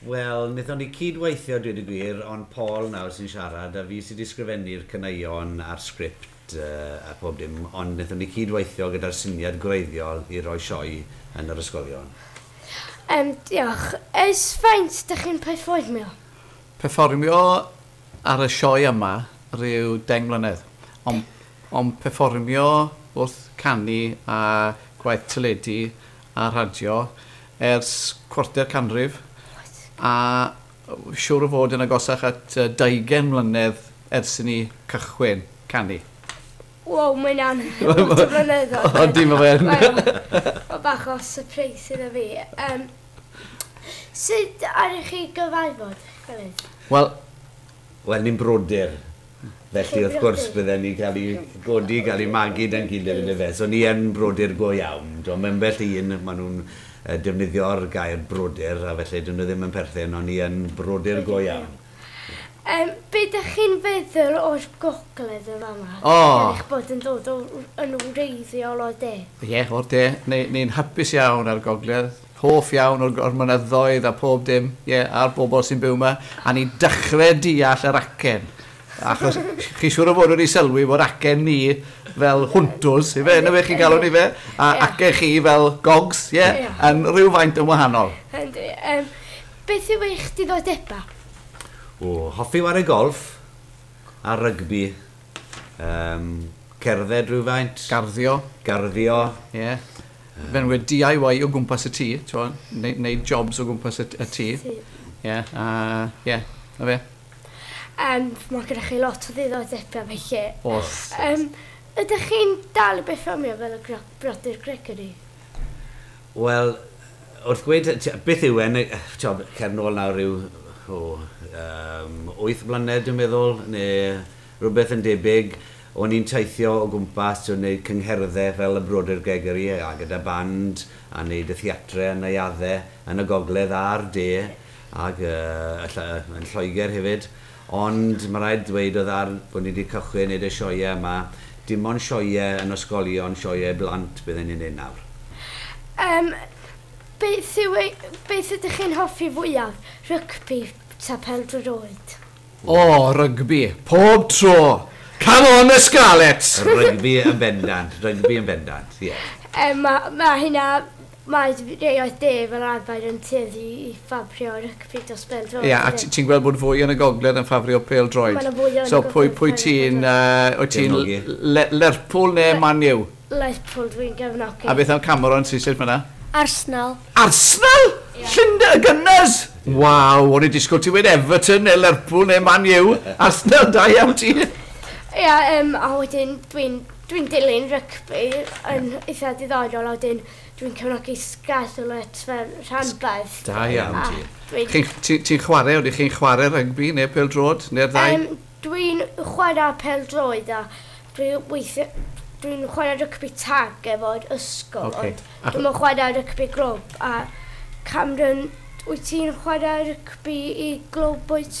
Wel, wnaethon ni cyd-weithio, dweud y gwir, ond Paul nawr sy'n siarad, a fi sy 'di sgrifennu'r caneuon a'r sgript a phob dim, ond wnaethon ni cyd-weithio gyda'r syniad gwreiddiol i roi sioe yn yr ysgolion. Yym, diolch. Ers faint 'dych chi'n perfformio? Perfformio ar y sioe yma ryw deng mlynedd, ond ond perfformio wrth canu a gwaith teledu a rhadio ers cwarter canrif a siwr o fod yn agosach at 20 mlynedd ers i ni cychwyn canu. Wow, mae hynna'n lot o flynyddoedd. Ydy, mae fe'n. Mae bach o surprise iddo fi. Um, sut aru chi gyfarfod, Felyn? Wel, Wel, ni'n brodyr, felly wrth gwrs bydden ni'n cael ei godi, cael ei magu da'n gilydd yn dyfe. So ni yn brodyr go iawn. Timod, mae ambell un, maen nhw'n defnyddio'r gair brodyr, a felly 'dyn nhw ddim yn perthyn, ond ni yn brodyr go iawn. Yym, be dych chi'n feddwl o'r gogledd yn fama? O! Gan eich bod yn dod o, yn wreiddiol o'r de. Ie, o'r de. Ni, ni'n hapus iawn â'r gogledd. Hoff iawn o'r o'r mynyddoedd a pob dim, ie, a'r bobl sy'n byw 'ma, a ni'n dechre deall yr acen, achos chi siŵr o fod wedi sylwi bod acen ni fel hwntws, ife, yndyfe, chi'n galw ni fe, a acen chi fel gogs, ie, yn rhywfaint yn wahanol. Yndi, yym, beth yw eich diddordebau? O, hoffi ware golff a rygbi Yym, cerdded rhywfaint. Garddio. Garddio. Ie. Fenywyd DIY o gwmpas y tŷ, t'mo', neu neu jobs o gwmpas y t- y tŷ. Tŷ. Ie, a ie, 'na fe. Yym, ma' gyda chi lot o ddiddordebe felly. O's. Yym, ydych chi'n dal i berfformio fel y gro- brodyr Gregory? Wel, Wrth ddweud beth yw e'n ti'od cer nôl nawr ryw o yym wyth mlynedd dwi'n meddwl ne' rwbeth yn debyg o'n i'n teithio o gwmpas t'wo' neud cyngherddau fel y Brodyr Gregory a gyda band a neud y theatre a neuaddau yn y gogledd a'r de ag yy y ll- yn Lloegr hefyd Ond ma raid dweud oedd ar bod ni di cychwyn neud y sioea yma, dim ond sioea yn ysgolion, sioea i blant bydden ni'n neud nawr. Yym beth yw ei- beth ydych chi'n hoffi fwyaf, rygbi ta pêl-droed oed? O! Rygbi! Pob tro! Come on the Scarlets! Rygbi yn bendant, rygbi yn bendant, ie. Yym ma' ma' hynna Mae Direoedd De fel arfer yn tueddu i ffafrio rygbi dros bêl-droed. Ie, a ti'n gweld bod fwy yn y gogledd yn ffafrio pêl-droed? Mae 'na fwy yn y gogledd yn ffafrio pêl-droed. So pwy ti'n... wyt ti'n Lerpwl neu Man U? Lerpwl dwi'n gefnogi. A beth am Cameron sy'n sefyll fan'na? Arsenal. Arsenal? Llundain? Y Gunners? Waw, o'n i'n disgwyl ti wedi Everton neu Lerpwl neu Man U. Arsenal, da iawn ti. Ie, a wedyn dwi'n... Dwi'n dilyn rygbi, yn eitha diddorol a wedyn dwi'n cefnogi Scarlets fel rhanbarth. Da iawn ti. Chi'n, ti'n, ti'n chwarae, ydych chi'n chwarae rygbi neu pêl-droed, neu'r ddau? Yym, dwi'n chwarae pêl-droed a dwi weithie- dwi'n chwarae rygbi tag efo'r ysgol. Ocê. Ond dwi'm yn chwarae rygbi glwb a Cameron, wyt ti'n chwarae rygbi i glwb wyt?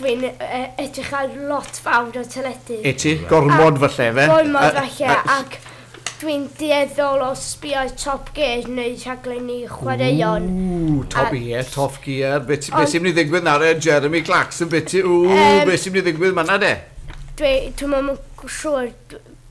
Dwi'n edrych ar lot fawr o teledu. Wyt ti? Gormod falle ife? Gormod falle ac dwi'n dueddol o sbio Top Gear neu rhaglenni chwaraeon. Ww Top Gear, Top Gear. Be be sy'n mynd i ddigwydd nawr e Jeremy Clarkson byti ww be sy'n mynd i ddigwydd manna de? Dwi dwi'm yn siŵr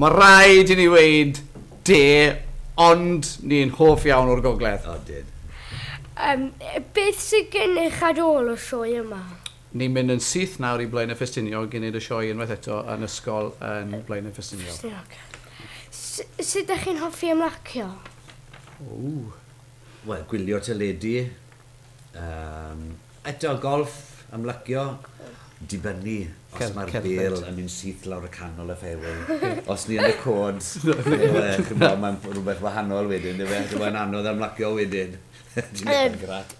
Mae rhaid i ni weud de, ond ni'n hoff iawn o'r gogledd. Ydyn. Yym, beth sydd gennych ar ôl y sioe yma? Ni'n mynd yn syth nawr i Blaenau Ffestiniog i wneud y sioe unwaith eto yn ysgol yn Blaenau Ffestiniog. Ffestiniog. S- sut dach chi'n hoffi ymlacio? Ww. Wel, gwylio teledu. Yym, eto golff, ymlacio, dibynnu os mae'r bêl yn mynd syth lawr y canol y fairway. Os ni yn y cod, mae'n rhywbeth wahanol wedyn, dwi fe? Mae'n anodd ymlacio wedyn. Dwi'n eithaf grac.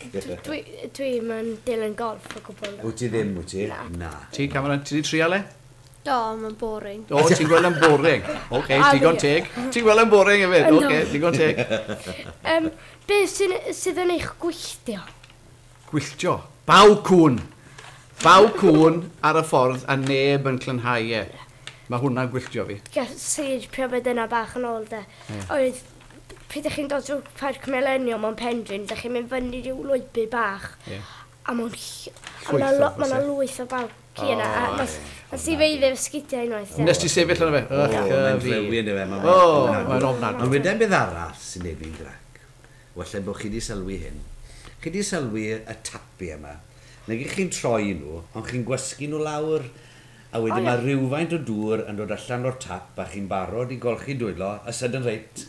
Dwi'n dilyn golff o gwbl. Wyt ti ddim, wyt ti? Na. Ti, Cameron, ti wedi trial e? Do, mae'n boring. Do, ti'n gweld yn boring. Oce, okay, digon teg. Ti'n gweld yn boring hefyd. Oce, okay, digon teg. um, be sydd, sydd yn eich gwylltio? Gwylltio? Baw cwn. Baw cwn ar y ffordd a neb yn clynhau e. Mae hwnna'n gwylltio fi. Gall sage priomed yna bach yn ôl de. Yeah. Oedd pryd ydych chi'n dod drwy Parc Millennium o'n Pendrin, ydych chi'n mynd fyny rhyw lwybr bach. Yeah. A mae'n ll- a Llwyth o mae 'na lo- mae 'na bwse. lwyth o bawb ci yna a O, nes ie. nes i feiddio efo sgidia unwaith de. Wnest ti sefyll arno fe? Ych O, a mae'n fi. drewi yndyw e, mae'n O, ofnadw. mae'n ofnadw. Ond weda i beth arall sy'n neud fi'n grac. Wella bo chi 'di sylwi hyn. Chi 'di sylwi y tapi yma? Nag 'ych chi'n troi nhw, ond chi'n gwasgu nhw lawr, a wedyn O, ie. mae rywfaint o dŵr yn dod allan o'r tap a chi'n barod i golchi dwylo y sudden rate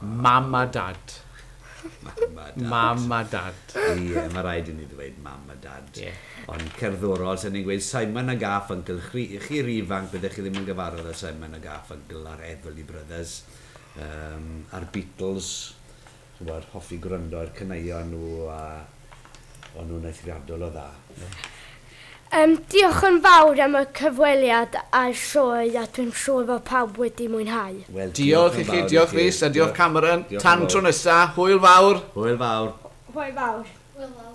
Mam a Dad. Mam a Dad. Mam a Dad. Ie, mae rhaid i ni ddweud Mam a Dad. Ie. Ond cerddorol, sa ni'n gweud Simon a Garfunkel. Chri, chi ry ifanc, byddech chi ddim yn gyfarfod â Simon a Garfunkel a'r Everly Brothers, yym, a'r Beatles, ch'mod, hoffi gwrando i'r caneuon nhw a, O'n nhw'n eithriadol o dda. Yym, diolch yn fawr am y cyfweliad a'r sioe a dwi'n siŵr fod pawb wedi mwynhau. Wel, diolch i chi, diolch Rhys a diolch Cameron. Tan tro nesa, hwyl fawr! Hwyl fawr! Hwyl fawr! Hwyl fawr!